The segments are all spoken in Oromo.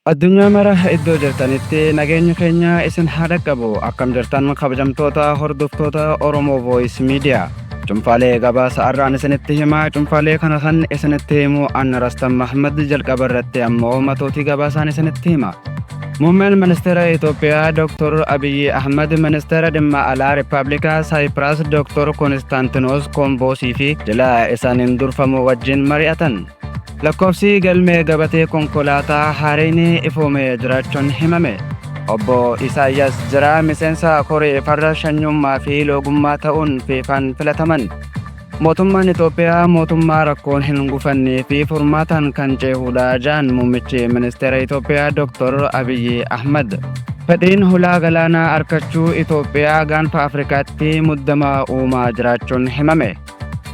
Addunyaa mara iddoo jirtanitti nageenyi keenya isin haa dhaqqabu. Akkam jirtan kabajamtoota hordoftoota Oromoo Voice Media. Cunfaalee gabaasa har'aan isinitti himaa cunfaalee kana kan isinitti himu Anna Rastan Mahmad jalqaba irratti ammoo matootii gabaasaan isinitti hima. Muummeen ministeera Itoophiyaa Dr. Abiyyi Ahmad ministeera dhimma alaa Rippaabilika Saayipiraas Dr. Konistantinoos Koomboosii fi jila isaaniin durfamu wajjin mari'atan. Lakkoofsi galmee gabatee konkolaataa haareen ifoomee jiraachuun himame. Obbo Isaayyaas Jiraa miseensa koree farra shanyummaa fi loogummaa ta'uun fiifaan filataman. Mootummaan Itoophiyaa mootummaa rakkoon hin gufannee fi furmaataan kan ceehuudha jedhan muummichi ministeera Itoophiyaa Dr. Abiyyi Ahmad. Fedhiin hulaa galaanaa arkachuu Itoophiyaa gaanfa Afrikaatti muddama uumaa jiraachuun himame.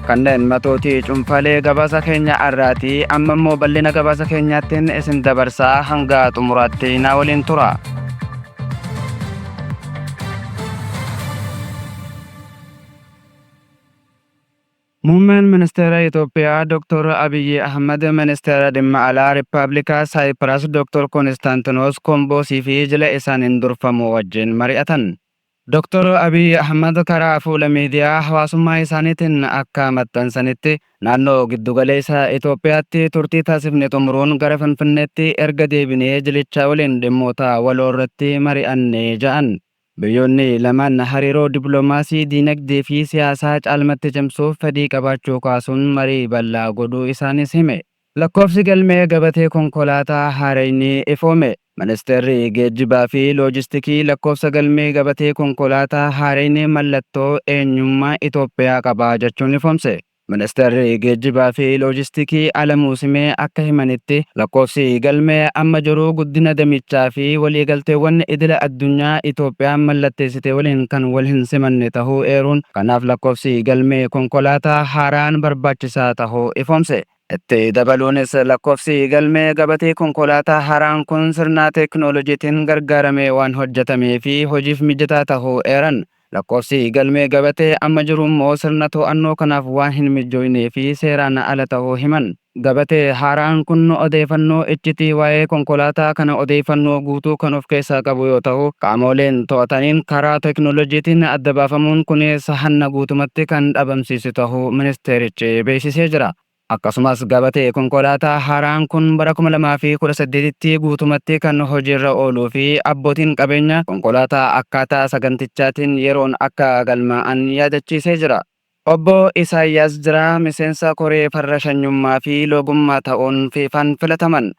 Kanneen matootii cunfalee gabaasa keenya arraati amma immoo bal'ina gabaasa keenyaattiin isin dabarsaa hanga xumuraatti naa waliin tura. Muummeen Ministeera Itoophiyaa Dr. Abiyyi Ahmad Ministeera Dhimma Alaa Rippaabilika Saayipiras Dr. Konstaantinos Komboosii fi jila isaaniin durfamu wajjin mari'atan. Doktar Abiy Ahmad karaa fuula miidiyaa hawaasummaa isaaniitiin akka maxxansanitti, naannoo Giddugaleessa Itoophiyaatti turtii taasifne xumuruun gara Finfinneetti erga deebinee jilicha waliin dhimmoota waloo irratti mari'anne ja'an. Biyyoonni lamaan hariiroo dippilomaasii, diinagdee fi siyaasaa caalmatti cimsuuf fedhii qabaachuu kaasuun marii bal'aa godhuu isaaniis hime. Lakkoofsi galmee gabatee konkolaataa haarayni ifoome. Ministeerri Geejjibaa fi Loojistikii lakkoofsa galmee gabatee konkolaataa haarayni mallattoo eenyummaa Itoophiyaa qaba jechuun ifoomse. Ministeerri Geejjibaa fi Loojistikii Alamuu Simee akka himanitti, lakkoofsi galmee amma jiru guddina damichaa fi waliigalteewwan idila addunyaa Itoophiyaan mallatteessite waliin kan wal hin simanne tahuu eeruun, kanaaf lakkoofsi galmee konkolaataa haaraan barbaachisaa tahuu ifoomse. Itti dabaluunis lakkoofsi galmee gabatee konkolaataa haaraan kun sirnaa teeknoolojiitiin gargaaramee waan hojjatamee fi hojiif mijataa tahuu eeran. Lakkoofsi galmee gabatee amma jiru immoo sirna too'annoo kanaaf waan hin mijjooynee fi seeraan ala tahuu himan. Gabatee haaraan kun odeeyfannoo iccitii waa'ee konkolaataa kana odeeyfannoo guutuu kan of keessaa qabu yoo tahu, qaamooleen too'ataniin karaa teeknoolojiitiin adda baafamuun kuniis hanna guutumatti kan dhabamsiisu. tahuu ministeerichi beeksisee jira. Akkasumas gabatee konkolaataa haaraan kun bara 2018tti guutumatti kan hojiirra ooluu fi abbootiin qabeenya konkolaataa akkaataa sagantichaatiin yeroon akka galmaa'an yaadachiisee jira. Obbo Isaayyaas Jiraa miseensa koree farra shanyummaa fi loogummaa ta'uun Fiifaan filataman.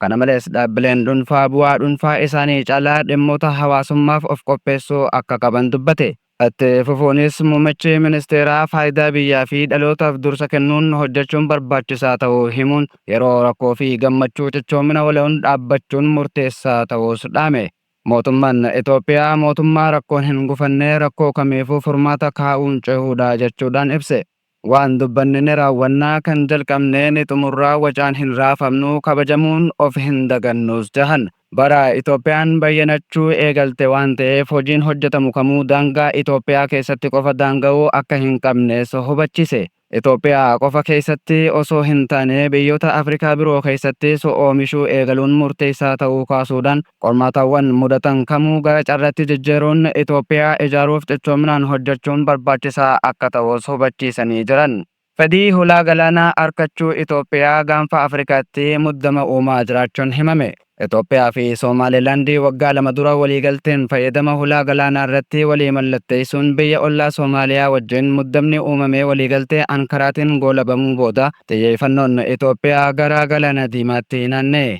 Kana malees, dhaabbileen dhuunfaa bu'aa dhuunfaa isaanii caalaa dhimmoota hawaasummaaf of qopheessuu akka qaban dubbate. Itti fufuunis, muummichi ministeeraa faayidaa biyyaa fi dhalootaaf dursa kennuun hojjechuun barbaachisaa ta'uu himuun, yeroo rakkoo fi gammachuu cichoomina waloon dhaabbachuun murteessaa ta'uus dhaame. Mootummaan Itoophiyaa mootummaa rakkoon hin gufanne, rakkoo kamiifuu furmaata kaa'uun cehuudha jechuudhaan ibse. Waan dubbanne ni raawwanna, kan jalqabne ni xumurra, wacaan hin raafamnu, kabajamuun of hin dagannuus jahan. Bara Itoophiyaan bayyanachuu eegalte waan ta'eef hojiin hojjetamu kamuu daangaa Itoophiyaa keessatti qofa daanga'uu akka hin qabnes hubachise. Itoophiyaa qofa keessatti osoo hin taane biyyoota Afrikaa biroo keessattis oomishuu eegaluun murteessaa ta'uu kaasuudhaan, Qormaatawwan mudatan kamuu gara carratti jijjiiruun Itoophiyaa ijaaruuf cichoominaan hojjechuun barbaachisaa akka ta'us hubachiisanii jiran. Fedhii hulaa galaanaa arkachuu Itoophiyaa gaanfa Afrikaatti muddama uumaa jiraachuun himame. Itoophiyaa fi Soomaaleelaandi waggaa lama dura waliigalteen fayyadama hulaa galaanaa irratti walii mallatteessuun biyya ollaa Soomaaliyaa wajjin muddamni uumamee waliigaltee Ankaraatiin goolabamuu booda xiyyeefannoon Itoophiyaa gara Galaana Diimaatti naanna'e.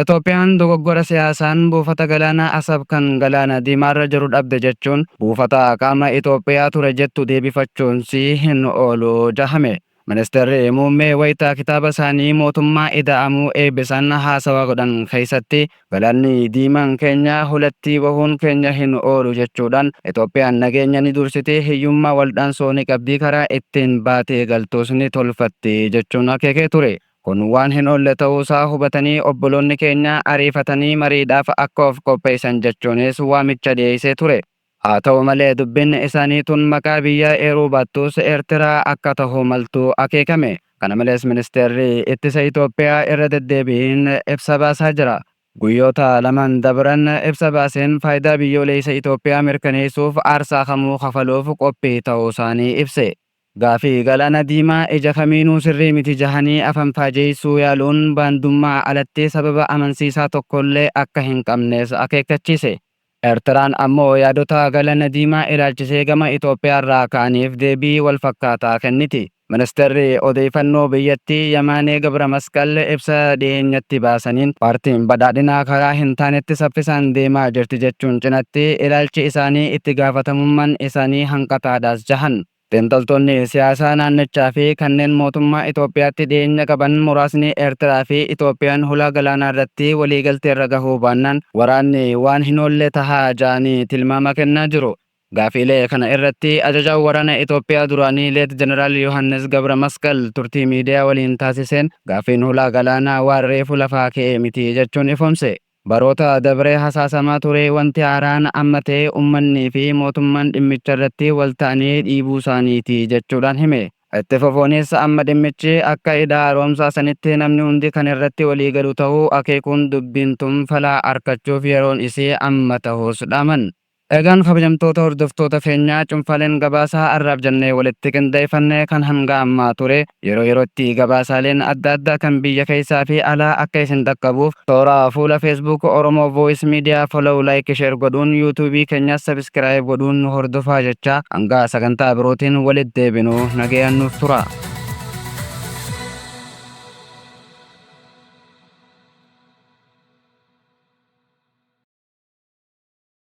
Itoophiyaan dogoggora siyaasaan buufata galaanaa Asab kan Galaana Diimaarra jiru dhabde jechuun buufata qaama Itoophiyaa ture jettu deebifachuunsii hin oolu jahame. Ministirri Muummee wayita kitaaba isaanii Mootummaa Ida'amuu eebbisan haasawa godhan keessatti Galaanni Diimaan keenya hulattii bahuun keenya hin oolu jechuudhaan Itoophiyaan nageenya ni dursiti, hiyyummaa waldhaansoo ni qabdi, karaa ittiin baatee galtuus ni tolfatti jechuun akeekee ture. Kun waan hin oolle ta'uusaa hubatanii obboloonni keenya ariifatanii mariidhaaf akka of qopheessan jechuunis waamicha dhiyeessee ture. Haa ta'u malee dubbiin isaanii tun maqaa biyyaa eeruu baattus Eertiraa akka ta'uu maltu akeekame. Kana malees Ministeerri Ittisa Itoophiyaa irra deddeebiin ibsa baasaa jira. Guyyoota lamaan dabran ibsa baaseen faayidaa biyyooleessa Itoophiyaa mirkaneessuuf aarsaa kamuu kafaluuf qophii ta'uusaanii ibse. Gaafii, Galaana Diimaa ija kamiinuu sirrii miti jahanii afanfaajeessuu yaaluun baandummaa alatti sababa amansiisaa tokkollee akka hin qabnes akeekkachiise. Ertiraan ammoo yaadota Galaana Diimaa ilaalchisee gama Itoophiyaarraa ka'aniif deebii walfakkaataa kenniti. Ministeerri Odeeyfannoo biyyattii Yamaanee Gabramasqal ibsa dhiheenyatti baasaniin, Paartiin Badhaadhinaa karaa hin taanetti saffisaan deemaa jirti jechuun cinatti, ilaalchi isaanii itti gaafatamumman isaanii hanqataadhas jahan. Xiinxaltoonni siyaasaa naannichaa fi kanneen mootummaa Itoophiyaatti dhiyeenya qaban muraasni Eertiraa fi Itoophiyaan hulaa galaanaa irratti waliigalteerra gahuu baannaan waraanni waan hin oolle taha ja'anii tilmaama kennaa jiru. Gaafiilee kana irratti ajajaan waraana Itoophiyaa duraanii Leet Jeneraal Yohaannis Gabramasqal turtii miidiyaa waliin taasiseen gaaffiin hulaa galaanaa waan reefu lafaa ka'e miti jechuun ifoomse. Baroota dabre hasaasamaa ture wanti haaraan amma ta'e ummannii fi mootummaan dhimmicharratti wal ta'anii dhiibuusaaniiti jechuudhaan hime. Itti fufuunis amma dhimmichi akka Hidha Haaromsaa sanitti namni hundi kan irratti waliigalu ta'uu akeekuun dubbiin tun fala arkachuuf yeroon isii amma ta'uus dhaaman. Egaan kabajamtoota hordoftoota keenyaa cunfaaleen gabaasa har'aaf jennee walitti qindeeffanne kan hanga ammaa ture. Yeroo yerootti gabaasaaleen adda addaa kan biyya keessaa fi alaa akka isin dhaqqabuuf toora fuula Facebook Oromo Voice Media follow, like, share godhuun YouTube keenyas subscribe godhuun nu hordofaa jechaa hanga sagantaa birootiin walitti deebinu nagayaan nuuf turaa.